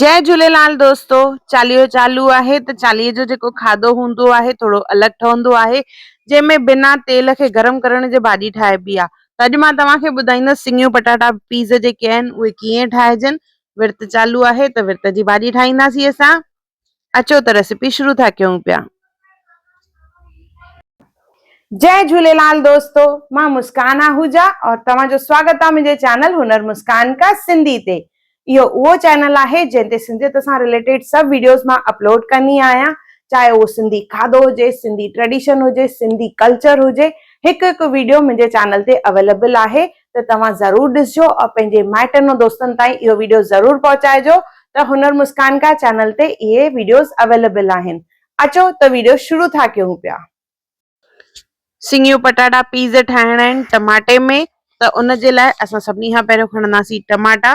جي جهوليلال دوستو چاليهو چالو آهي ته چاليهي جو جيڪو کاڌو هوندو آهي ٿورو الڳ ٺهندو آهي جنهن ۾ بنا تيل کي گرم ڪرڻ جي ڀاڄي ٺاهبي آ ته اڄ مان توهان کي ٻڌائيندس سڱيون پٽاٽا پيز جيڪي آهن اهي ڪيئن ٺاهجن ورت چالو آهي ته ورت جي ڀاڄي ٺاهينداسين اسان اچو ته ريسيپي شروع ٿا ڪيون پيا. جئي جهوليلال دوستو مان مسڪان آهوجا اور توهان جو سواگت آ منهنجي چينل هنر مسڪان ڪا سنڌي تي اهو اهو چينل آهي جنهن تي سنڌيت سان رليٽيڊ سڀ ويڊيوز مان اپلوڊ ڪندي آهيان چاهي اهو سنڌي کاڌو هجي سنڌي ٽريڊيشن هجي سنڌي ڪلچر هجي هڪ هڪ ويڊيو منهنجي چينل تي اويليبل آهي ته توهان ضرور ڏسجو اور پنهنجي مائٽن ۽ دوستن تائين اهو ويڊيو ضرور پهچائجو ته هنر مسڪان ڪا چينل تي اهي ويڊيوز اويليبل آهن اچو ته ويڊيو شروع ٿا ڪيون پيا. سيڱيون پٽاٽا پيز ٺاهڻا آهن ٽماٽي ۾ ته ان جي لاء اسان سڀني کان پهريون کڻنداسين ٽماٽا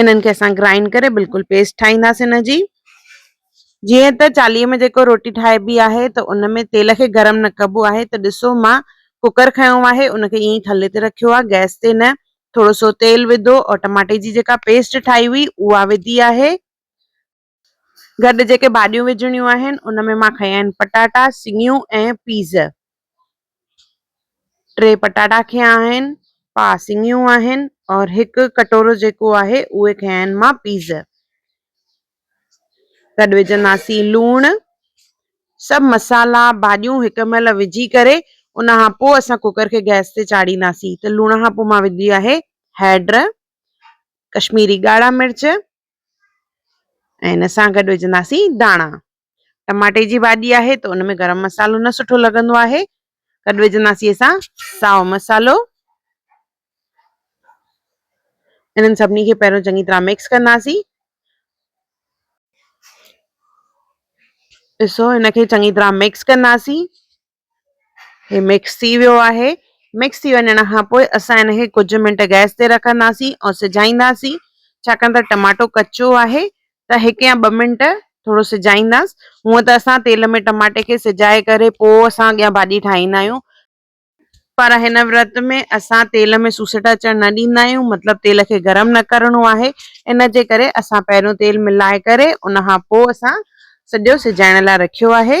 انهن کي اسان گرائنڊ ڪري بلڪل پيسٽ ٺاهينداسين ان جي جيئن ته چاليهه ۾ جيڪو روٽي ٺاهبي آهي ته ان ۾ تيل کي گرم نه ڪبو آهي ته ڏسو مان ڪوڪر کنيو آهي ان کي ائين ٿلهي تي رکيو آهي گئس تي نه ٿورو سو تيل وڌو ۽ ٽماٽي جي جيڪا پيسٽ ٺاهي هئي اها وڌي آهي گڏ جيڪي ڀاڄيون وجهڻيون آهن ان ۾ مان کنيا آهن پٽاٽا سڱيون ۽ پيز ٽي پٽاٽا کنيا آهن پا سڱيون آهن اور هڪ ڪٽورو جيڪو آهي اهي کنيا آهن مان پيز گڏ وجهنداسين لوڻ سڀ مسالا ڀاڄيون هڪ مهل وجهي ڪري ان کان پوء اسان ڪوڪر کي گئس تي چاڙهينداسين ته لوڻ کان پوء مان وجهي آهي هيڊ ڪشميري ڳاڙها مرچ ۽ ان سان گڏ وجهنداسين داڻا ٽماٽي جي ڀاڄي آهي ته ان ۾ گرم مصالحو نه سٺو لڳندو آهي گڏ وجهنداسين اسان ساو مصالحو انهن سڀني کي پهريون چڱي طرح مڪس ڪنداسين ڏسو هن کي چڱي طرح مڪس ڪنداسين هي مڪس ٿي ويو آهي مڪس ٿي وڃڻ کان پوء اسان ان کي ڪجهه منٽ گئس تي رکنداسين ۽ سجائينداسين ڇاڪاڻ ته ٽماٽو ڪچو آهي ته هڪ يا ٻه منٽ ٿورو سجائينداس هونء ته اسان تيل ۾ ٽماٽي کي سجائي ڪري پوء اسان اڳيان ڀاڄي ٺاهيندا آهيون پر هن ورت ۾ اسان تيل ۾ سوسٽ اچڻ نه ڏيندا آهيون مطلب تيل کي گرم نه ڪرڻو آهي ان جي ڪري اسان پهريون تيل ملائي ڪري ان کان پوء اسان سڄو سجائڻ لاء رکيو آهي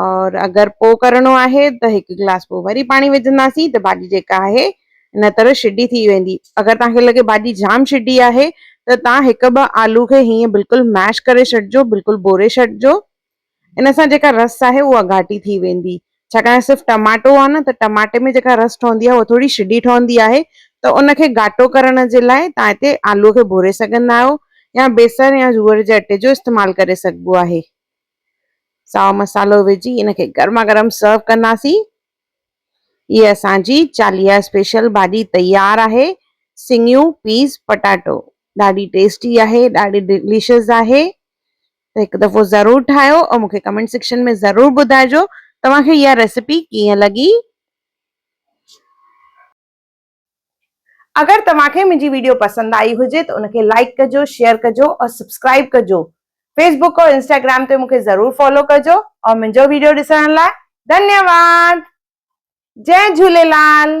اور اگر پوء ڪرڻو آهي ته هڪ گلاس پوء وري پاڻي وجهنداسين ته ڀاڄي جيڪا آهي ان طرح شڊي ٿي ويندي. اگر توهان کي لڳي ڀاڄي جام شڊي آهي ته توهان هڪ ٻه آلو کي هيئن بلڪل ميش ڪري ڇڏجو بلڪل ٻوري ڇڏجو ان سان جيڪا رس آهي اها گهاٽي ٿي ويندي ڇاڪاڻ صرف ٽماٽو آهي نه ته ٽماٽي ۾ جيڪا رس ٺهندي آهي اها ٿوري شڊي ٺهندي آهي ته ان کي گهاٽو ڪرڻ جي لاء توهان هتي آلو کي ڀوري سگهندا آهيو يا بيسڻ يا جوئر جي اٽي جو استعمال ڪري سگهبو آهي. سائو مصالحو وجهي ان کي گرما گرم سرو ڪنداسين. هي اسان جي چاليهه اسپيشل ڀاڄي تيار آهي سڱيون پيس پٽاٽو ڏاڍي ٽيسٽي آهي ڏاڍي ڊليشس آهي ته هڪ دفعو ضرور ٺاهيو ۽ مونکي ڪمينٽ سيڪشن ۾ ضرور ٻڌائجو توهان کي اها ريسيپي ڪيئن لڳي. اگر توهان کي منهنجي ويڊيو پسند آئي هجي ته ان کي لائڪ ڪجو شيئر ڪجو اور سبسڪرائب ڪجو فيس بوڪ اور انسٽاگرام تي مون کي ضرور فالو ڪجو اور منهنجو ويڊيو ڏسڻ لاء ڌنيواد جئ جهوليلال.